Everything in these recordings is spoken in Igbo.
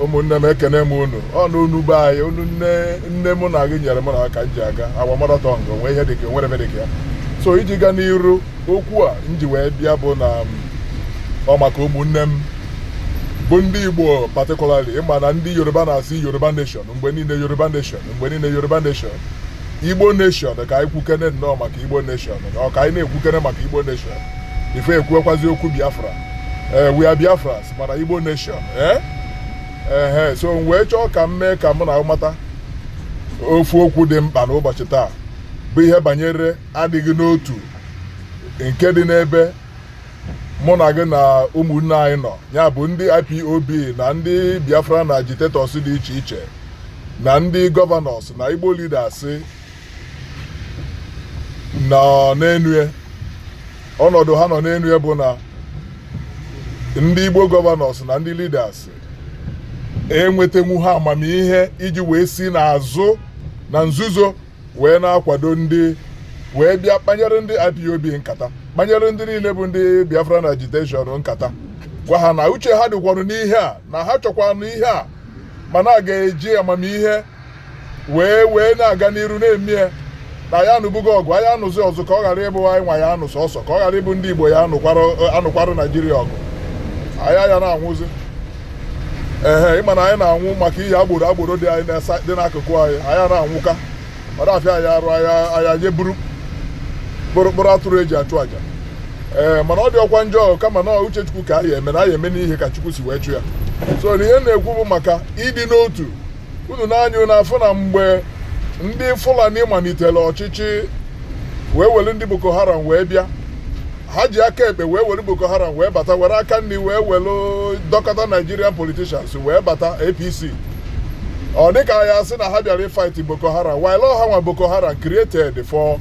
ụmụnne m ekene m unu ọ na unu be anyị unu nne nne mụ na gị nyere m na aka m ji aga agwa marathon gị o nwee ihe dịka o nwere ebe dịka ya so iji gaa n'iru okwu a m ji wee bịa bụ na ọ maka ụmụnne m bụ ndị igbo particularly ị ma na ndị yoruba na-asị yoruba nation mgbe niile yoruba nation mgbe niile yoruba nation igbo nation ka anyị kwukene nnọọ maka igbo nation na ọ ka anyị na-ekwukene maka igbo nation ife ekwuekwazi okwu biafra ee eh, we are Biafrans mana Igbo nation ee eh? ehe so m wee chọọ ka m mee ka mụ na unu mata ofu okwu dị mkpa n'ụbọchị taa bụ ihe banyere adịghị n'otu nke dị n'ebe mụ na gị na ụmụnne anyị nọ ya bụ ndị IPOB na ndị Biafran agitators dị iche iche na ndị governors na Igbo leaders nọ n'enu ya ọnọdụ ha nọ n'enu ya bụ na ndị Igbo governors na ndị leaders enwetenwu ha amamihe iji wee si n'azụ na nzuzo wee na-akwado ndị wee bịa kpanyere ndị IPOB nkata kpanyere ndị niile bụ ndị Biafran agitation nkata gwa ha na uche ha dịkwanụ n'ihe a na ha chọkwanụ ihe a mana a ga-eji amamihe wee wee na-aga n'iru na-eme ya na anyị anụbugo ọgụ anyị anụzi ọzọ ka ọ ghara ịbụ anyị nwa ya-anụ sọsọ ka ọ ghara ịbụ ndị igbo ya-anụkwara naijiria ọgụ anyị ya na-anwụzi ee ị ma na anyị na-anwụ maka ihe agbụrụ agbụrụ dị anyị dị n'akụkụ anyị anyị na-anwụka mara afịa anyị arụ anya nye buru kpụrụkpụrụ atụrụ e ji achụ aja ee mana ọ dịrọkwa njọ kama na uche chukwu ka anyị eme na anyị eme ihe ka chukwu si wee chọọ ya so na ihe m na-ekwu bụ maka ịdị n'otu unu nee anya unu afụ na mgbe ndị fulani malitere ọchịchị wee were ndị boko haram wee bịa ha ji aka ekpe wee were boko haram wee bata were aka nri wee were dọkọta nigerian politicians wee bata apc ọ dị ka a ya-asị na ha bịara ịfight boko haram while ha nwe boko haram created for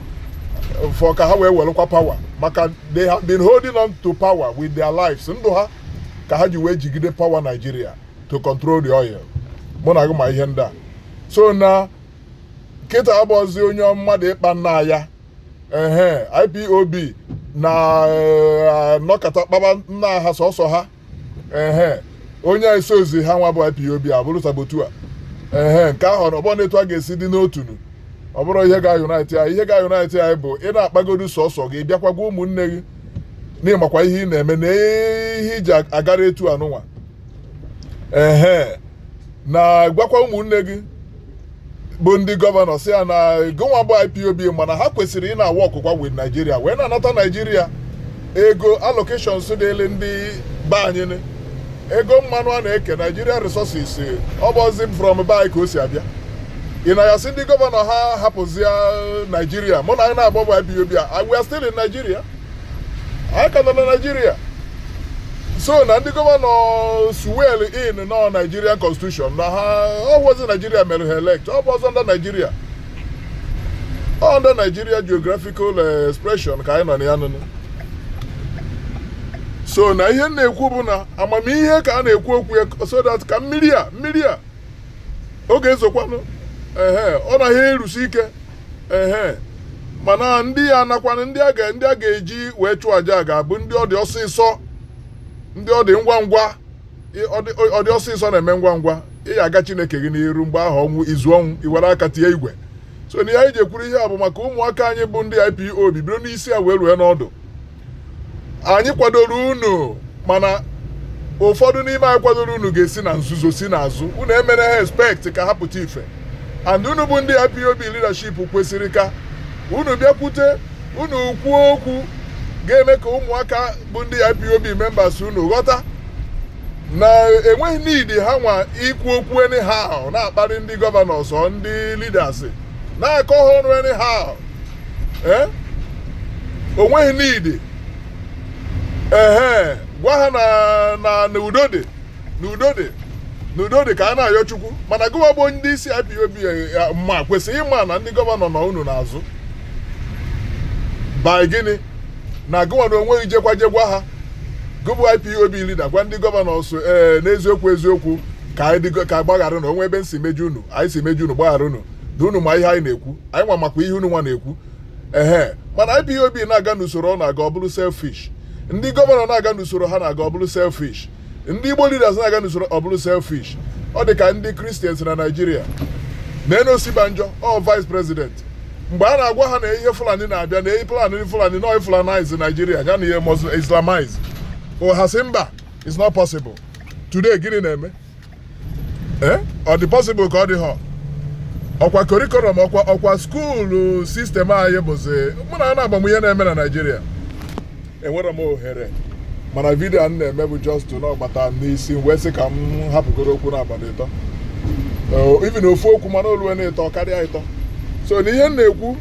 for ka ha wee welụkwa power maka they have been holding on to power with their lives ndụ ha ka ha ji wee jigide power Nigeria to control the oil mụ na gị ma ihe ndị a so na kịta abụrọzi onye mmadụ ịkpa nnaa ya ehe ipob na eh, anọkata kpaba nnaa ha sọsọ ha ehe onye esorozi ha nwa bụ ipob abụrụ saboteur ehe nke ahụ na ọbụna etu a ga-esi dị n'otu na ọ bụrọ ihe ga-unite anyị ihe ga-unite anyị bụ ị na-akpagodu sọsọ gị bịakwa gwa ụmụnne gị na ị makwa ihe ị na-eme na ihe i ji agara etu a nụnwa ehe na gwakwa ụmụnne gị bụ ndị gọvanọ sị ya na gịnwa bụ ipob mana ha kwesịrị ị na-awọkụkwa wit naijiria wee na-anata naijiria ego allocations dịịrị ndị be anyị nị. ego mmanụ a na-eke naijiria resources ọ bụzi from be anyị ka o si abịa ị na ya sị ndị gọvanọ ha hapụzia naijiria mụ na anyị na-agba bụ ipob a we are still in naijiria anyị ka nọ na naijiria so na ndị gọvanọ swear in na naijiria constitution na ha ọ wụzi naijiria mere ha elect ọ bụzi under naijiria under naijiria geographical eh, expression ka anyị nọ na ya nụnụ so na ihe m na-ekwu bụ na amamihe ka a na-ekwu okwu ya so that ka mmiri a mmiri a ọ ga-ezokwanụ ehe ọ naghị erusi ike ehe mana ndị ya-anakwanụ ndị a ga- ndị a ga-eji wee chụọ aja a ga-abụ ndị ọ dị ọsịsọ ndị ọ dị ngwa ngwa ị- ọ dị- ọ dị ọsịsọ na-eme ngwa ngwa ị ya aga chineke gị n'iru mgbe ahụ ọnwụ i zuo ọnwụ i were aka tie igwe so na ihe anyị ji ekwuru ihe a bụ maka ụmụaka anyị bụ ndị ipob bidoro n'isi a wee rue n'ọdụ anyị kwadoro unu mana ụfọdụ n'ime anyị kwadoro unu ga-esi na nzuzo si n'azụ unu emere ha expect ka ha pụta ife and unu bụ ndị IPOB leadership kwesịrị ka unu bịakwute unu kwuo okwu ga-eme ka ụmụaka bụ ndị IPOB members unu ghọta na e nweghị need ha nwa ikwu okwu anyhow na-akparị ndị gọvanọ also ndị leaders na-akọ ha ọnụ anyhow eh? o nweghị need ehe gwa ha na na udo dị na udo dị na udo dị ka a na-ayọ chukwu mana gụwa bụ ndị isi IPOB ma kwesịrị ịma na ndị gọvanọ nọ unu n'azụ by gịnị na gụwa na o nweghị jekwa je gwa ha gụ bụ IPOB lida gwa ndị gọvanọ so ee eh, n'eziokwu eziokwu ka anyị gbaghara na o nwee ebe m si meju unu anyị si meju unu gbaghara unu na unu ma ihe anyị na-ekwu anyị nwa makwa ihe unu nwa na-ekwu ehe mana ipob na-aga n'usoro ọ na-aga ọ bụrụ selfish ndị gọvanọ na-aga n'usoro ha na-aga ọ bụrụ selfish ndị igbo leaders na-aga n'usoro ọ bụrụ selfish ọ dị ka ndị kristians na naijiria na eh na osinbajo ọ vice president mgbe a na-agwa ha na ihe fulani na-abịa na eyi plan ndị fulani na fulanize naijiria ya na ihe islamize o ha sị mba it's not possible today gịnị na-eme ee ọ dị possible ka ọ dịhọ ọkwa curriculum ọkwa ọkwa skuulu sistem anyị bụzi mụ na a na-agbanwe ihe na-eme na naijiria enwere m ohere mana vidio a m na-eme bụ just na ọ gbata n'isi m wee sị ka m hapụgoro okwu naabọ ịtọ Eh, even ofu okwu mana o luwe na ịtọ karịa ịtọ so na ihe m na-ekwu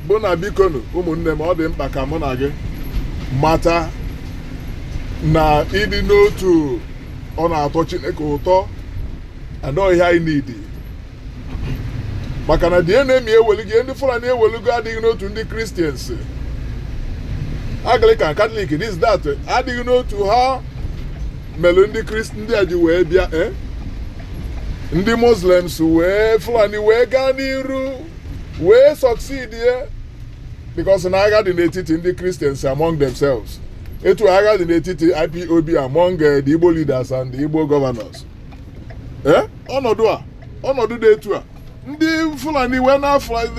bụ na bikonu ụmụnne m ọ dị mkpa ka mụ na gị mata na ịdị n'otu ọ na-atọ Chineke ụtọ and ọ ihe anyị need maka na the enemy eweligo ihe ndị Fulani eweligo adịghị n'otu ndị Kristians Anglican Katọlik this that adịghị n'otu ha mere ndị Krist ndị a ji wee bịa eh? ndị Muslims wee Fulani wee gaa n'iru wee succeedie because na agha dị n'etiti ndị Kristians among themselves etu agha dị n'etiti ipob among eh, the igbo leaders and the igbo governors Eh, ọnọdụ a ọnọdụ dị etu a ndị fulani wee na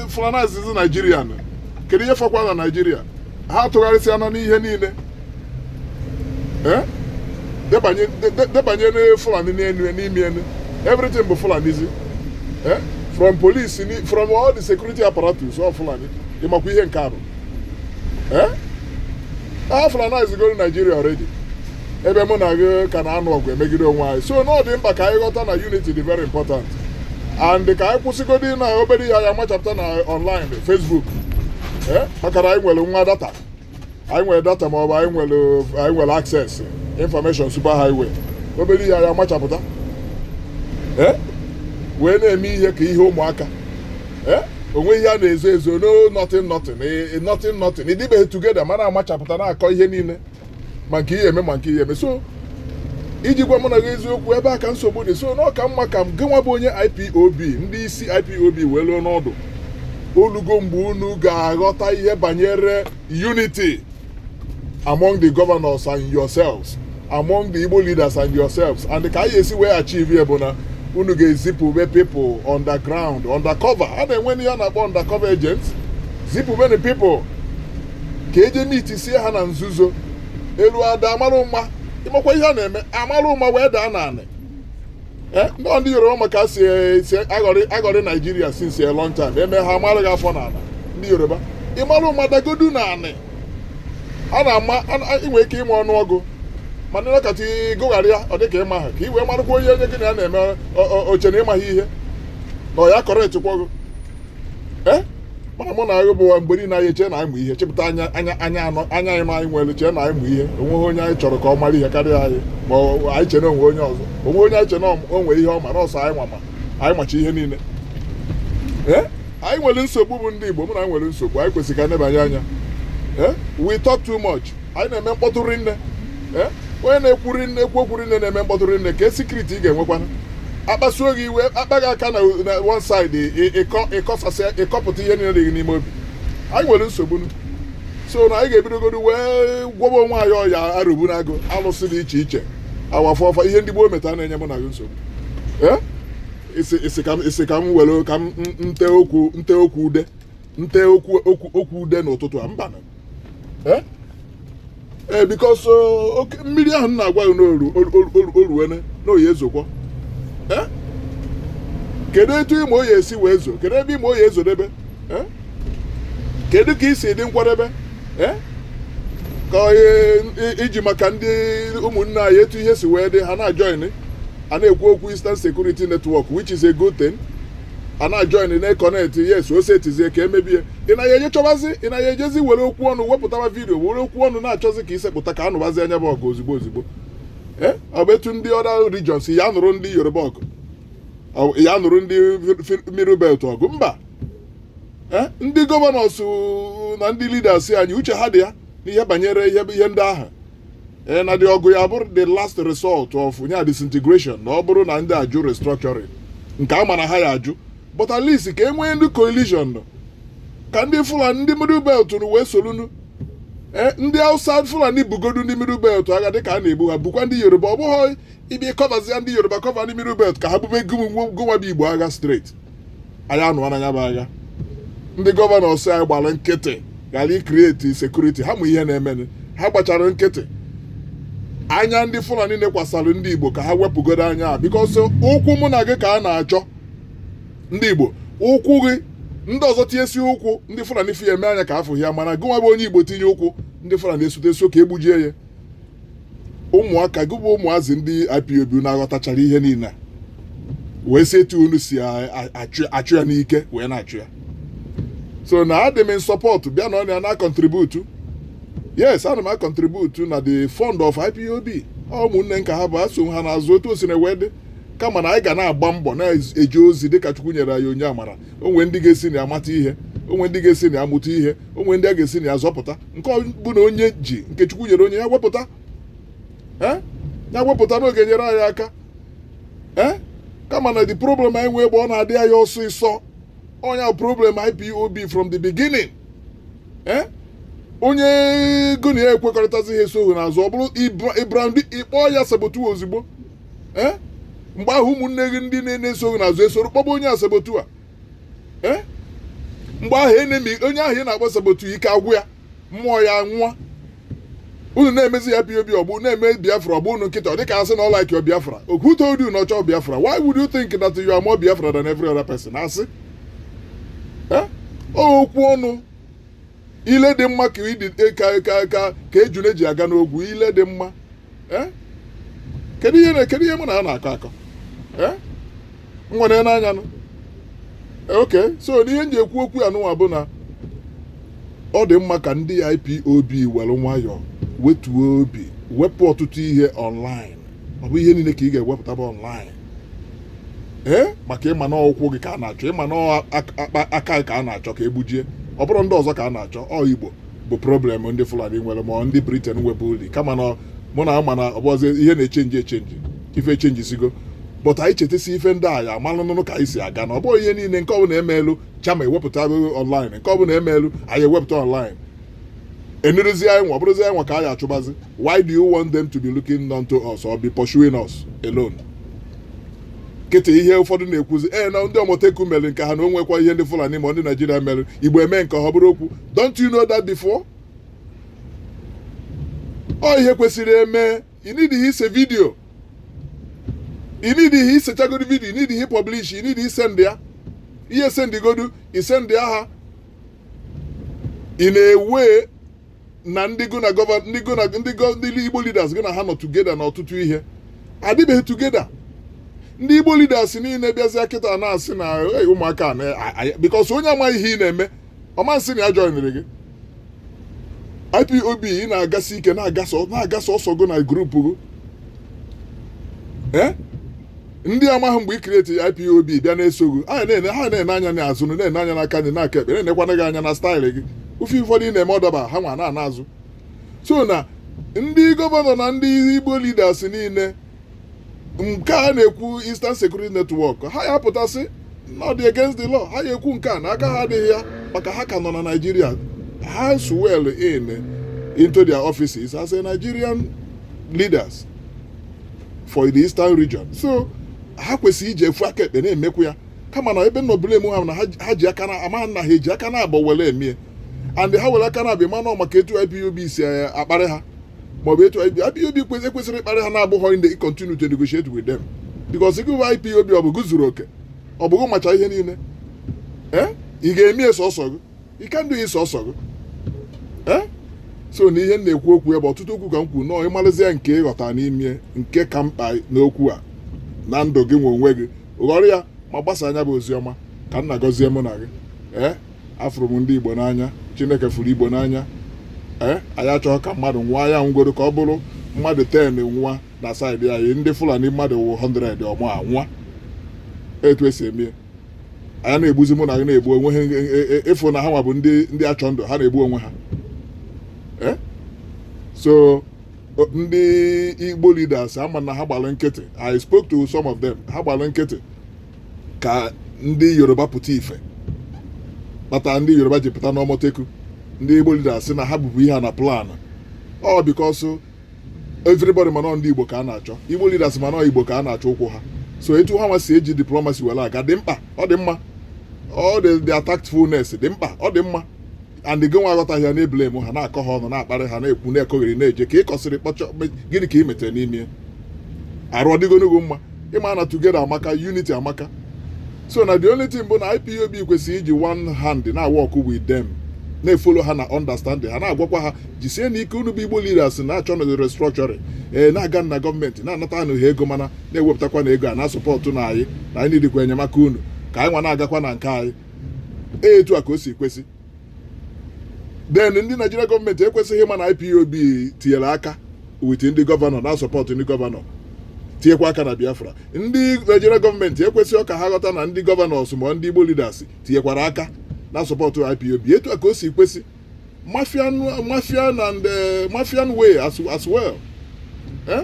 fulanizizi naijiria nụ. kedu ihe fọkwa na naijiria ha tụgharịsịanụ ihe niile Eh, debanye de- de- debanye na fulani n'elu n'ime elu everything bụ fulanizi Eh, from police ni- from all the security apparatus ọ fulani ị makwa ihe nke a bụ Eh? a fulanizigoro naijiria already ebe mụ na gị ka na-anụ ọgụ emegide onwe anyị so na ọ dị mkpa ka anyị ghọta na unity dị very important and ka anyị kwụsịgodi na obere ihe ya machapụta na online facebook Eh? maka na anyị nwere nwa data anyị nwere data maọbụ anyị nwere anyị nwere access information super highway obere ihe ya machapụta Eh? wee na-eme ihe ka ihe ụmụaka eh? o nwe ihe a na-ezo ezo no nothing nothing eh, nothing nothing ị dịbeghị together ma na-amachapụta na-akọ ihe niile ma nke ihe eme ma nke ihe eme so iji gwa mụ na gị eziokwu ebe a ka nsogbu dị so na ọ ka mma ka ngị nwa bụ onye IPOB ndị isi IPOB welụ ọnọdụ o lugo mgbe unu ga-aghọta ihe banyere unity among the governors and yourselves among the Igbo leaders and yourselves and ka anyị esi wee achieve ya bụ na unu ga-ezipụbe people underground undercover a na-enweni ihe a na-akpọ undercover agents zipụbeni people ka e je meetsie ha na nzuzo elu ada a marụ ụma ị makwa ihe a na-eme a marụ ụma wee daa n'anị Eh, nọ ndị yoruba ma ka e si si aghọrị aghọrị naijiria since a long time eme ha mara gị afọ n'ala ndị yoruba ị marụ ụma dagodu n'anị a na-ama a na- ị nwere ike ịma ọnụọgụ mana ịnọkọta ịgụgharị ya ọ dịka ịma ha ka i wee marakwa onye onye gị na ya na-eme o- o- o che na ị maghị ihe na ọ ya kọrọ echekwọgụ eh? mana mụ na gị bụwa mgbe niile anyị chee na anyị ma ihe chepụta anya anya anya anọ anya anyị ma anyị ewere chee na anyị ma ihe o nweghị onye anyị chọrọ ka ọ mara ihe karịa anyị ma anyị chee na o nwe onye ọzọ o nwe onye anyị chee na o nwe ihe ọ ma na ọ sọ anyị nwa ma anyị macha ihe niile eh? anyị nwere nsogbu bụ ndị Igbo mụ na gị nwere nsogbu anyị kwesịrị ka nebanye anya eh? we talk too much anyị na-eme mkpọtụ rinne Eh? onye na-ekwu rinne ekwu okwu rinne na-eme mkpọtụ rinne ka sekuriti ị ga-enwekwana a kpasuo gị iwe akpa gị aka na na one side ị- ịkọ- ịkọsasịa ịkọpụta ihe niile dị gị n'ime obi anyị nwere nsogbu nu. so na anyị ga-ebidogodo wee gwọba onwe anyị ọya arụbu na agọ alụsị dị iche iche awafọfa ihe ndị gboo meta na-enye mụ na gị nsogbu Eh? Isi- isi ka m- isi ka m were ka m m- nte okwu nte okwu ude nte okwu okwu okwu ude n'ụtụtụ a mba ee eh? eh, because oh, oke mmiri ahụ na-agwa gị na o ruwene na ọ ya ezokwa eh? kedu etu ị ma ọ ya esi wee zo kedu ebe ị ma ọ ya ezodebe kedu ka i si dị nkwadebe ka iji maka ndị ụmụnne anyị etu ihe si wee dị ha na-ajoin a na-ekwu okwu Eastern Security Network which is a good thing a na-ajoin na-ekọnetị yes o setizie ka emebie ị na ya eje chọbazi ị na ya ejezi were okwu ọnụ wepụtawa vidiyo were okwu ọnụ na-achọzi ka isepụta ka a nụbazie nya bụ ọgụ ozugbo ozugbo ee ọ bụ etu ndị other regions ya nụrụ ndị yoruba ọgụ ya nụrụ ndị middle belt ọgụ mba Eh? ndị governors na ndị leaders anyị uche ha dị ya n'ihe banyere ihe ndị ahụ ee na dị ọgụ ya bụrụ the last result of nya disintegration na ọ bụrụ na ndị a jụ restructuring nke a ma na ha ya ajụ but at least ka e nwee ndị coalition nọ ka ndị fulani ndị middle belt nụ wee sorunu ee ndị hausa fulani bugodu ndị middle belt agha dịka a na-ebu ha bukwa ndị yoruba ọ bụghị ịbịa kọvazie ndị yoruba kọva ndị middle belt ka ha bube gị nwa bụ igbo agha straight anyị anụwa na ya bụ agha ndị governors anyị gbara nkịtị ghara ikrieti sekuriti ha ma ihe na-emenụ ha gbachara nkịtị anya ndị fulani nekwasara ndị igbo ka ha wepụgodo anya a because ụkwụ mụ na gị ka a na-achọ ndị igbo ụkwụ gị ndị ọzọ tinyesi ụkwụ ndị fulani fụ ya mee anya ka afụghị ya mana gị nwa bụ onye igbo tinye ụkwụ ndị fulani esute sị ka e gbujie ya ụmụaka gị bụ ụmụazị ndị IPOB na-aghọtachara ihe niile a wee si etu unu si a- a- achụ achụ ya n'ike wee na-achụ ya so na adị m in support bịa nọ na na-acontribute yes ana m acontribute na the fund of IPOB Ọ ụmụnne nka ha bụ eso ha n'azụ otu o sina wee dị kama na anyị ga na-agba mbọ na-eje ozi dịka Chukwu nyere anyị onye amara o nwe ndị ga-esi na ya mata ihe o nwe ndị ga-esi na ya mụta ihe o nwe ndị a ga-esi na ya zọpụta nke bụ na onye ji nke chukwu nyere onye ya wepụta eh? ya wepụta n'oge nyere anyị aka eh? kama na the problem anyị nwee ebe ọ na-adị anyị ọsịsọ onye ahụ problem IPOB from the beginning eh? onye gị na ya ekwekọrịtazi ha esoghị n'azụ ọ bụrụ ịbram ị kpọọ ya saboteur ozugbo mgbe ahụ ụmụnne gị ndị na-eso gị n'azụ esoro kpọba onye a saboteur ee mgbe ahụ enemi onye ahụ ị na-agba saboteur ike agwụ ya mmụọ ya nwụọ unu na-emezi ya pop ọgbụ na-eme biafra ọgbụ unu kịta ọ dịka a sị na ọ like biafra who told you na ọ chọ biafra why would you think that you are more biafra than every other person asị Eh? okwu ọnụ ile dị mma ka ịdị e, ka ka ka ka ejule ji aga n'ogwu ile dị mma Eh? kedu ihe na- kedu ihe mụ na ya na-akọ akọ Eh? m nwere n'anya nụ okay so na ihe m ji ekwu okwu a nụwa bụ na ọ dị mma ka ndị IPOB were nwayọọ wetuo obi wepụ ọtụtụ ihe online ọ bụ ihe niile ka ị ga-ewepụta bụ online ee maka ị ma na ụkwụ gị ka a na-achọ ị ma na aka gị ka a na-achọ ka e gbujie ọ bụrọ ndị ọzọ ka a na-achọ ọ igbo bụ problem ndị fulani nwere ma ndị Britain nwebulu kama na mụ nwa ma na ọ bụzi ihe na-echenji echenji ife echenjisigo but anyị chetasi ife ndị a ya amalụnụnụ ka anyị si aga na ọ bụghị ihe niile nke ọbụla emeelu chama ewepụta online nke ọbụla emeelu anyị ewepụta online enirizi anyị nwa bụrụzi anyị nwa ka a ya-achụbazi why do you want them to be looking unto us or be pursuing us alone kịta ihe ụfọdụ na-ekwuzi ee na ndị Amotekun mere nke ha na o nwekwa ihe ndị fulani ma ndị naijiria mere igbo eme nke ha bụrụ okwu don't you know that before ọ ihe kwesịrị eme you need ihe ise video you need ihe isechagodi video you need ihe publish you need isend ya ihe sendigodu isend ya ha ị na-ewe na ndị go na gọva ndị go na ndị go ndị igbo leaders gị na ha nọ together na ọtụtụ ihe adịbeghị together ndị igbo leaders niile bịazịa kịta na-asị na "Hey, ụmụaka a na- a- a- because onye amaghị ihe ị na-eme ọ ma nsị na ya joinere gị ipob ị na-agasi ike na-agasa na-aga sọsọ gị na group gị ee ndị amaghị mgbe ị create IPOB bịa na-eso gụ ha na-ene ha na-ene anya na azụ na-ene anya n'aka nri n'aka ekpe na-enekwana gị anya na style gị ife ụfọdụ ị na-eme ọ daba ha nwa na-ana azụ so na ndị gọvanọ na ndị igbo leaders niile nke a na-ekwu Eastern Security Network ha ya-apụta sị na ọ dị against the law ha ya-ekwu nke a na aka ha adịghị ya maka ha ka nọ na Naịjirịa ha swear in into their offices as a Nigerian leaders for the eastern region so ha kwesịrị iji ofu aka ekpe na-emekwu ya kama na ebe nọ blame ha na ha- ha ji aka na ama na ha eji aka naabụọ were mie and ha were aka na abịa mana maka etu ipob si eh, akparị ha maọbụ etu ipob kwesịrị ekwesịrị ịkparị ha na-abụghọ ndị continue to negotiate with them because gị bụ ipob ọ bụ gụ zuru oke ọ bụ gụ macha ihe niile ee ị ga-emie sọsọ gị you can do is ọsọ gị Eh? so na ihe m na-ekwu okwu ebe ọtụtụ okwu ka m kwuru nọọ ị malụzie nke ị ghọta n'ime nke ka mkpa n'okwu a na ndụ gị nwa onwe gị ghọrọ ya ma gbasaa nya bụ ozi ọma ka m na-agọzie mụ na gị ee afụrụ m ndị igbo n'anya chineke fụrụ igbo n'anya ee anyị achọghị ka mmadụ nwụọ ya nwụgodu ka ọ bụrụ mmadụ 10 nwụọ na saịdị anyị ndị fulani mmadụ 100 ama anwụọ etu esi eme ya anyị na-egbuzi mụ na gị na-egbu onwe ha ịfụ e, e, e, na ha nwa bụ ndị ndị achọ ndụ ha na-egbu onwe ha eh? so ndị igbo leaders ama m na ha gbalụ nkịtị i spoke to some of them ha gbalụ nkịtị ka ndị yoruba pụta ife kpata ndị yoruba ji pụta n'amotekun ndị igbo leaders na ha bubu ihe na plan ọ because everybody ma na ndị Igbo ka a na-achọ Igbo leaders ma na Igbo ka a na-achọ ụkwụ ha so etu ha nwa si eji diplomacy were aga dị mkpa ọ dị mma ọ dị the tactfulness dị mkpa ọ dị mma and gị nwa aghọtaghị ya na-eblame ha na-akọ ha ọnụ na-akparị ha na-ekwu na-ekogheri na-eje ka ị kọsịrị kpọchaa gịnị ka ị metere n'ime arụ ọ dịgonụ gị mma ị ma na together amaka unity amaka so na the only thing bụ na ipob kwesịrị iji one hand na-work with them na-efollow ha na understanding ha na-agwakwa ha jisienụ ike unu bụ igbo leaders na-achọnụ restructuring ee na-aga na gọọmenti na-anatanụ ha ego mana na-ewepụtakwanụ ego a na-asupportnụ anyị na anyị needịkwa enyemaka unu ka anyị nwa na-agakwa na nke anyị etu a ka o si kwesị then ndị Naijiria gọọmenti ekwesịghị ịma na IPOB tinyere aka with ndị gọvanọ na-asupport ndị gọvanọ tinyekwa aka na Biafra ndị Naijiria gọọmenti ekwesịghị ka ha ghọta na ndị gọvanọs ma ndị Igbo leaders tinyekwara aka na-asupport IPOB etu a ka o si kwesị mafian mafian and eh, mafian way as, as well eh?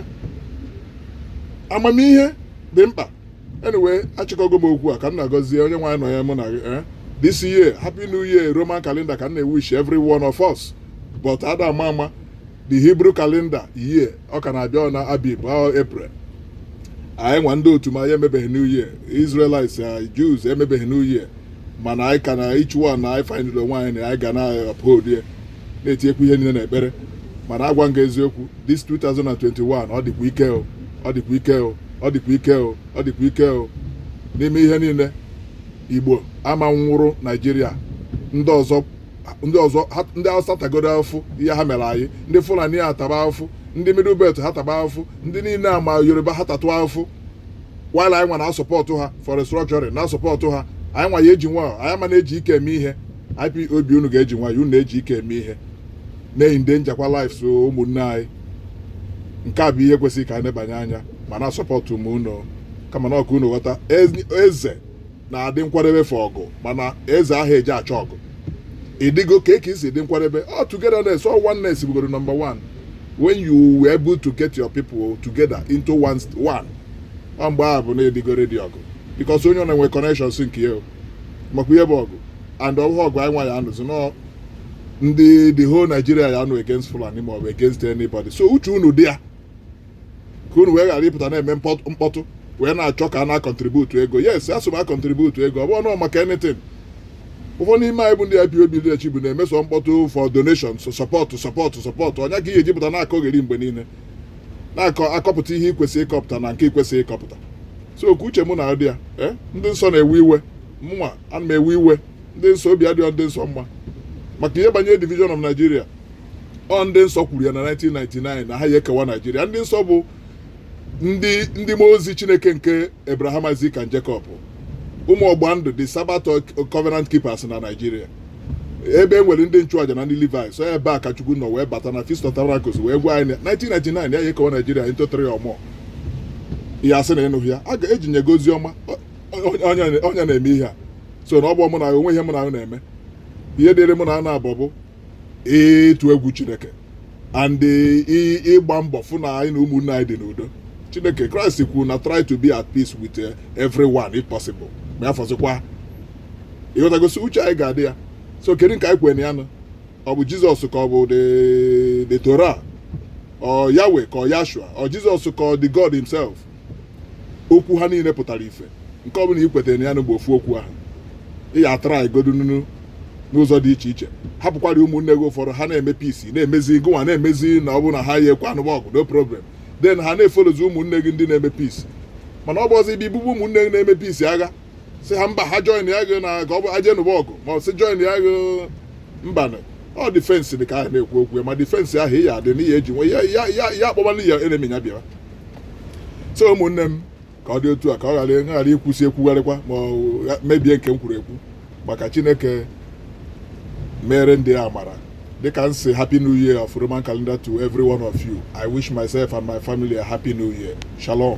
amamihe dị mkpa anyway achịkọgo m okwu a ka m na-agọzie onye nwaanyị nọ ya mụ na gị eh? this year happy new year roman calendar ka m na-ewish every one of us but ada ama ama the hebrew calendar year ọ ka na-abịa ọ na abib ahụ april anyị nwa ndị otu m anyị emebeghị new year israelites eh, jews emebeghị new year mana anyị ka na each one na anyị findịrị onwe anyị na anyị ga na-uphold ya na-etinyekwu ihe niile n'ekpere mana agwa m gị eziokwu this 2021 ọ dịkwa ike o ọ dịkwa ike o ọ dịkwa ike o ọ dịkwa ike o n'ime ihe niile igbo ama nwụrụ naijiria ndị ọzọ ndị ọzọ ha- ndị awụsa tagodu afụfụ ihe ha mere anyị ndị fulani ha taba afụfụ ndị middle belt ha taba afụfụ ndị niile a ma yoruba ha tatụ afụfụ while anyị nwa na-asupport ha for restructuring na-asupport ha anyị nwa ya-eji nwayọ anyị ama na-eji ike eme ihe ipob unu ga-eji nwayọ unu na-eji ike eme ihe na-eendangerkwa lives ụmụnne anyị nke a bụ ihe kwesịrị ka anyị nebanye anya ma na-asọpọtụ onwe unu kama na ọ ka unu ghọta ezi- eze na-adị nkwadebe for ọgụ mana eze ahụ eji achọ ọgụ ịdịgo ka e si dị nkwadebe ọ togetherness ọ oneness bugoro number one when you were able to get your people together into one, one. ọ mgbe ahụ bụ na ịdịgo ready ọgụ because onye ọ na-enwe connections nke ya o. makwa ihe bụ ọgụ and ọ bụghị ọgụ anyịnwa ya anụzi na ọ ndị the whole Nigeria ya anụ against Fulani ma ọ bụ against anybody so uche unu dị ya ka unu wee ghara ịpụta na-eme mkpọtụ- mkpọtụ wee na-achọ ka a na-acontribute ego yes asị m acontribute ego ọ bụ ọnụ maka anything ụfọdụ n'ime anyị bụ ndị IPOB leadership bụ na-emesi mkpọtụ for donation so sọpọtụ sọpọtụ sọpọtụ onwe ka ihe ejipụta na-akọgheri mgbe niile na-akọ akọpụta ihe ikwesị ịkọpụta na nke ikwesị ịkọpụta so ọ ka uche unu na-adị ya eh? ndị nsọ na-ewe iwe mụnwa ana m ewe iwe ndị nsọ obi adịghị ndị nsọ mma maka ihe banyere division of Nigeria ọ ndị nsọ kwuru ya na 1999 na ha ya ekewa Nigeria ndị nsọ bụ ndị ndị mmụọ ozi Chineke nke Abraham Isaac and Jacob ụmụ ọgba ndụ the Sabbath Covenant Keepers na Nigeria ebe e nwere ndị nchụaja na ndị Levi so ebe a ka Chukwu nọ wee bata na Feast of Tabernacles wee gwa anyị 1999 na ya ya ekewa Nigeria into three or more ị ya asị na ị nụghị ya e ji nye gị ozi ọma onye na-eme ihe a so na ọ bụ mụ na o nwe ihe mụnwa na-eme ihe dịrị mụnwa na-abụ bụ ịtụ egwu chineke and ịgba mbọ fụ na anyị na ụmụnne anyị dị n'udo chineke Christ kwuru na try to be at peace with eh, everyone if possible ma ya fọzikwa ịghọtagosi uche anyị ga-adị ya so kedu nke anyị kwere na ya nọ ọ bụ Jesus ka ọ bụ the the torah ọ Yahweh ka ọ Yashua ọ Jesus ka ọ the god himself okwu ha niile pụtara ife nke ọbụla i kwetara na ya bụ ofu okwu ahụ ị ya atara igodo nunu n'ụzọ dị iche iche hapụkwara ụmụnne gị ụfọdụ ha na-eme peace na-emezi gụnwa na-emezi na ọ bụ na ha ya ekwe anụba ọgụ no problem then ha na-efolozi ụmụnne gị ndị na-eme peace mana ọ bụzi ibi bụbụ ụmụnne gị na-eme peace agha sị ha mba ha joinịa gị na ka ọ bụ aje nụba ọgụ ma ọ sị joinịa gị mba na ọ defence dị ka a na-ekwu okwu ya ma defence ahụ ya adị n'ihe eji nwe ya ya ya ya akpọbala ya enemy ya bịara so ụmụnne m ka ọ dị otu a ka ọ ghara ghara ikwusi ekwugharịkwa ma ọ gha- mebie nke m kwuru ekwu maka chineke mere ndị a mara dịka m sị happy new year of roman calendar to every one of you i wish myself and my family a happy new year shalom